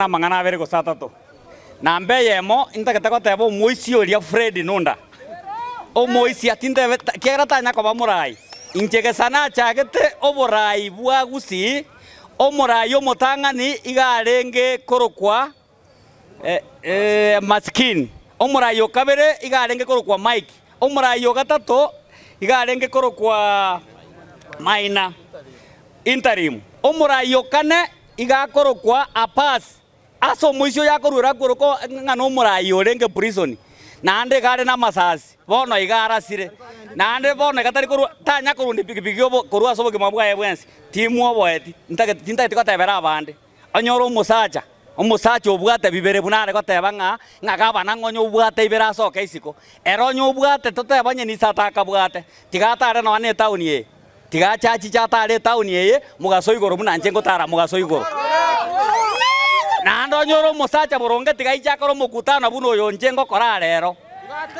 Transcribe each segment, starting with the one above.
amang'ana abere gose atato. Namba eyemo intagete goteba omoisia oria Fred Nunda. Omoisia tintebe ekiagera tanya koba morai. Inche gesa nachagete oborai bwa Gusii, omorai omotang'ani iga arenge korokwa Masikini. Omorai o kabere iga arenge korokwa Mike. Omorai o gatato iga arenge korokwa Maina, interim. Omorai o kane igakorokwa Apphas, ase omoisio yakoruera akworoka ng'a nomoraai orenge prisoni, naende iga are namasasi, bono iga arasire, naende bono iga tari korwa tanya korwa onde pikipiki obo korwa ase obogima bwaye bwensi, timwoboeti, ntagete tintageti gotebera abande. Onye ore omosacha, omosacha obwate bibere buna are goteba ng'a ng'a gabana ng'a onye obwate ibere asoke isiko, ere onye obwate toteba onye nisato akabwate, tiga atare nonya ne etaoni eye. Tiga ache achiche ataare etaoni eye mogaso igoro buna inche ngotaara mogaso igoro. Naende onye ore omosacha boronge tiga aiche akore omokutano buna oyo inche ngokora arero.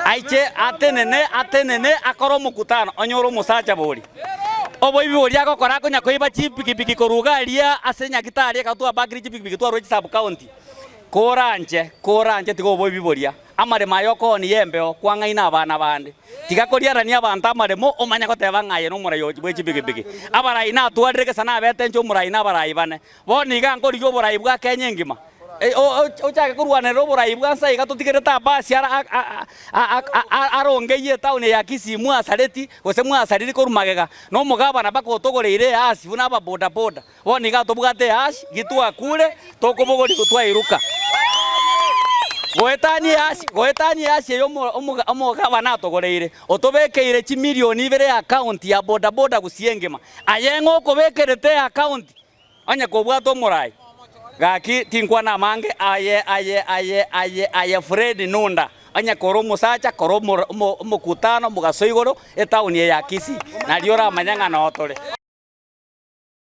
Aiche atenene, atenene, akore omokutano, onye ore omosacha boria. Oboibi boria agokora akonya koiba chipikipiki koruga aria ase Nyagetari ekaba twabakire chipikipiki twarwa chisub-county. Kora inche, kora inche tiga oboibi boria. Amaremo aya okoonie y'embeo kwang'aine abana bande. Tiga koriarania abanto amaremo omanye goteba ng'a aye nomorai o bwe chipikipiki. Abarai natwarire gesa nabetenche omorai na abarai bane. Bono iga nkorigia oborai bwa Kenya engima. Ochake korwanerera oborai bwa nsa iga totigerete Abbas arongeyie etaoni eye ya Kisii mwasareti gose mwasariri korwa magega na omogabana mpaka otogoreire easi buna aba bodaboda. Bono nigo atobwate Yahashi, gitwakure, tokobogoria gotwairuka goetania Yahashi, goetania Yahashi eyo omogabana atogoreire, otobekeire chimilion ibere y'akaonti ya bodaboda gusii engima. Aye ng'a okobekerete y'akaonti onye kobwate omorai. Gaki tinkwana amange aye aye aye aye aye Fred Nunda onye kore omosacha kore omokutano mogaso igoro etaoni eye ya Kisii nario oramanye ng'a noo tore.